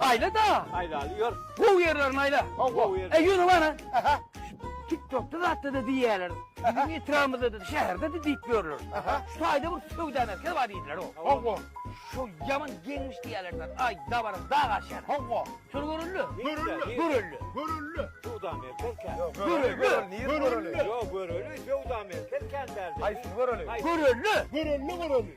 Aýla da. Aýlaly ýör. Gowy ýerlerini aýla. Gowy ýer. E ýöne bana. Aha. TikTokda zatda da diýýärler. Biziň etrabymyzda da şäherde de diýip ýörler. Aha. Şu taýda bir söwda merkezi bar diýdiler o. Hawa. Şu ýaman geňmiş diýýärler. Aý, dabara dag aşýar. Hawa. Şol görüldi. Görüldi. Görüldi. Görüldi. Söwda merkezi kän. Görüldi. Görüldi. Görüldi. Ýok, görüldi. Söwda merkezi kän däldi. Haýsy görüldi? Görüldi. Görüldi, görüldi.